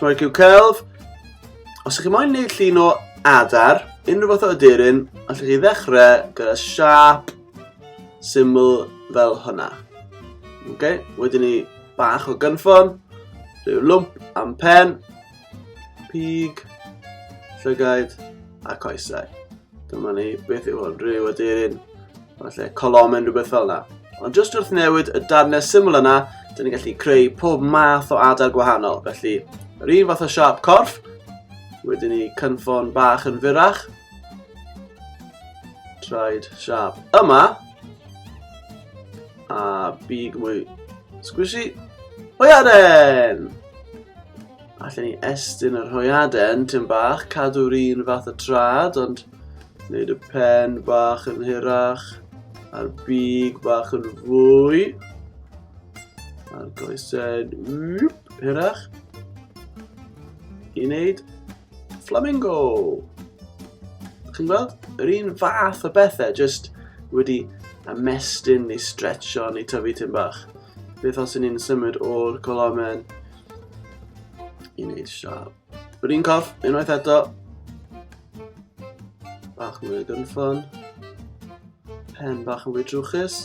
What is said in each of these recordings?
Troi cyw celf. Os ydych chi'n moyn neud llun o adar, unrhyw fath o aderyn, allwch chi ddechrau gyda siap syml fel hwnna. Okay? Wedyn ni bach o gynffon, rhyw lwmp am pen, pig, llygaid a coesau. Dyma ni, beth yw hwn? Rhyw aderyn, falle colomen, rhywbeth fel yna. Ond jyst wrth newid y darnau syml yna, dyn ni'n gallu creu pob math o adar gwahanol. Felly, yr un fath o siap corff, wedyn ni cynffon bach yn fyrach, traed siap yma, a big mwy squishy, hwyaren! Allen ni estyn yr hoiaden tyn bach, cadw'r un fath o trad, ond wneud y pen bach yn hirach, a'r big bach yn fwy, a'r goesau hirach, i wneud flamingo. Chi'n gweld? Yr un fath o bethau, jyst wedi ymestyn ni stretcho ni tyfu tyn bach. Beth os y'n ni'n symud o'r colomen I wneud siarad. Yr un cof, unwaith eto. Bach mwy o gynffon. Pen bach yn fwy trwchus.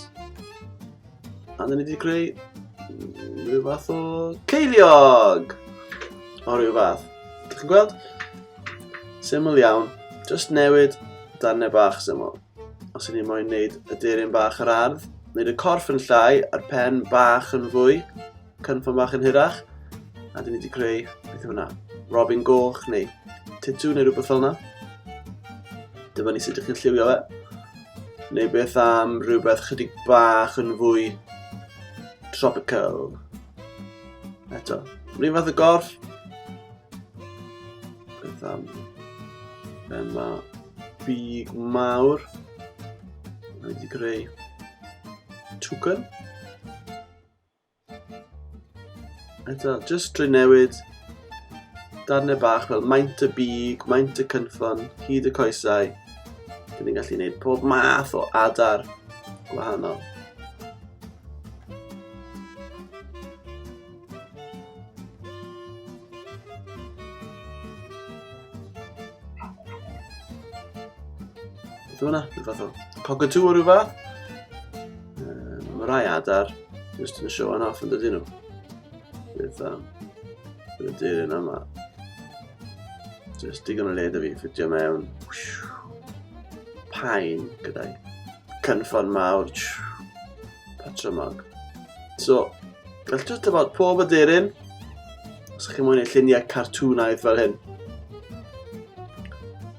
A dyn ni wedi creu rhyw fath o ceiliog. O rhyw fath. Dych chi'n gweld? Syml iawn. Just newid darnau bach syml. Os ydyn ni moyn wneud y deryn bach yr ardd, wneud y corff yn llai a'r pen bach yn fwy, cynffon bach yn hirach, a dyn ni wedi creu, beth yw hwnna, Robin Goch neu Titw neu rhywbeth fel yna. Dyma ni sut ydych chi'n lliwio fe. Neu beth am rhywbeth chydig bach yn fwy tropical. Eto, rhywun fath o gorff. Beth am... Yma, big mawr. Mae wedi creu Tucan. Eto, jyst drwy newid darnau bach fel maint y big, maint y cynffon, hyd y coesau. Dyn ni'n gallu gwneud pob math o adar gwahanol. Beth hwnna? Rhyw fath o cockatoo o rhyw fath? Um, mae rai adar Just yn show yn off yn dydyn nhw. Bydd um, bydd y dyn yn yma. Just digon o le da fi ffidio mewn. Pain gyda'i cynffon mawr. Patrymog. So, gallwch just about pob y dyn. Os chi'n mwyn ei lluniau cartwnaidd fel hyn.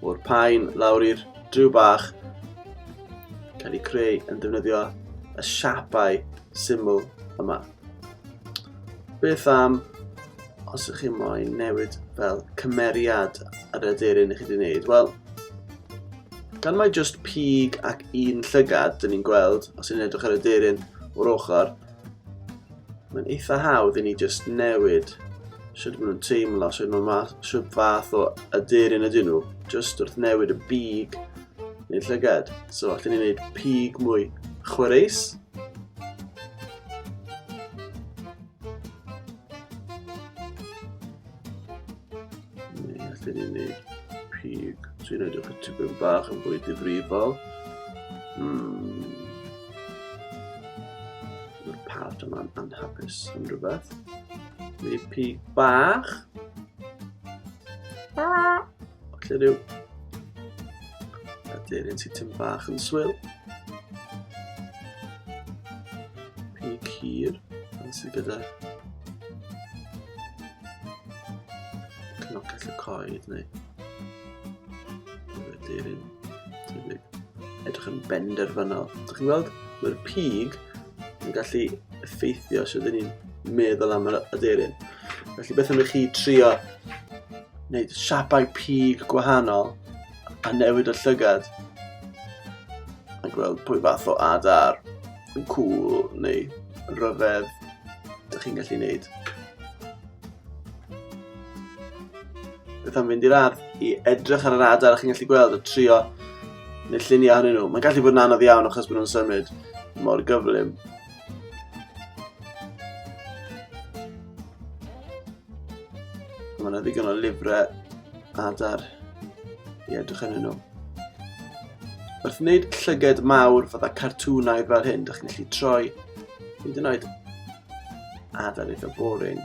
O'r pain lawr i'r driw bach cael ei creu yn defnyddio y siapau syml yma. Beth am os ydych chi'n moyn newid fel cymeriad yr aderyn i chi wedi gwneud? Wel, gan mae just pig ac un llygad, dyn ni'n gweld, os ni'n edrych ar y deryn o'r ochr, Mae'n eitha hawdd i ni just newid sut maen nhw'n teimlo, sut maen nhw'n sut fath o aderyn ydyn nhw, just wrth newid y big neu'r llygad. So, allwn ni wneud pig mwy chwaraeus. Ni allwn ni wneud pig sy'n edrych y tipyn bach yn fwy difrifol. Hmm. Mae'r part yma'n anhapus am rhywbeth. Mae pig bach. Falle rhyw... Ydy'r un sy'n tyn bach yn swyl. Pig hir. Yn sydd gyda Cnoces y coed neu wedi'r un tebyg. Edrych yn benderfynol. Dych chi'n gweld, mae'r pig yn gallu effeithio os ydyn ni'n meddwl am yr aderyn. Felly beth am i chi trio wneud siapau pig gwahanol a newid y llygad a gweld pwy fath o adar yn cool neu rhyfedd ydych chi'n gallu wneud. Beth am fynd i'r ardd i edrych ar yr adar a chi'n gallu gweld a trio neu lluniau hynny nhw. Mae'n gallu bod yn anodd iawn achos bod nhw'n symud mor gyflym. Mae yna ddigon o lyfrau adar i edrych yn nhw. Wrth wneud llyged mawr fydda cartwnau fel hyn, ydych chi'n gallu troi hyd yn oed adar eitha boring,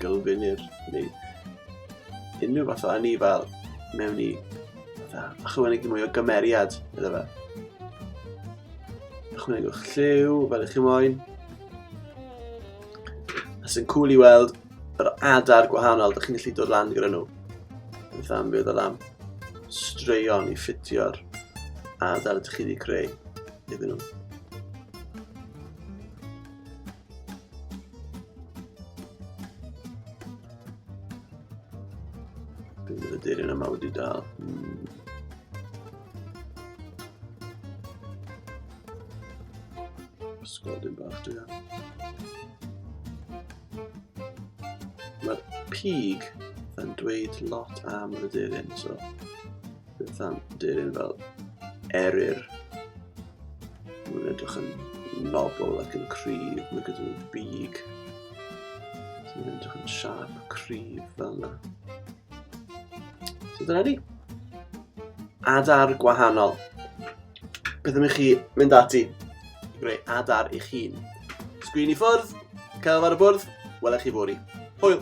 gylfinir, neu unrhyw fath o anifal mewn i fatha, ychwanegu mwy o gymeriad iddo fe. Ychwanegwch lliw fel ych chi'n moyn. A sy'n cool i weld yr adar gwahanol ydych chi'n gallu dod lan gyda nhw. Beth am fe ddod am straeon i ffitio'r adar ydych chi wedi creu iddyn nhw. Bydd y dyrun yma wedi dal. Hmm. Ysgol dim bach dwi am. Mae'r pig yn dweud lot am y dyrun, so beth am dyrun fel eryr. Mae'n edrych yn nobl ac yn cryf, mae gyda nhw big. So mae'n edrych yn siarp, cryf fel yna. So dyna ni. Adar gwahanol. Beth am i chi mynd ati i greu adar eich hun? Sgwyn i ffwrdd, celf ar y bwrdd, welech chi fori. Hwyl!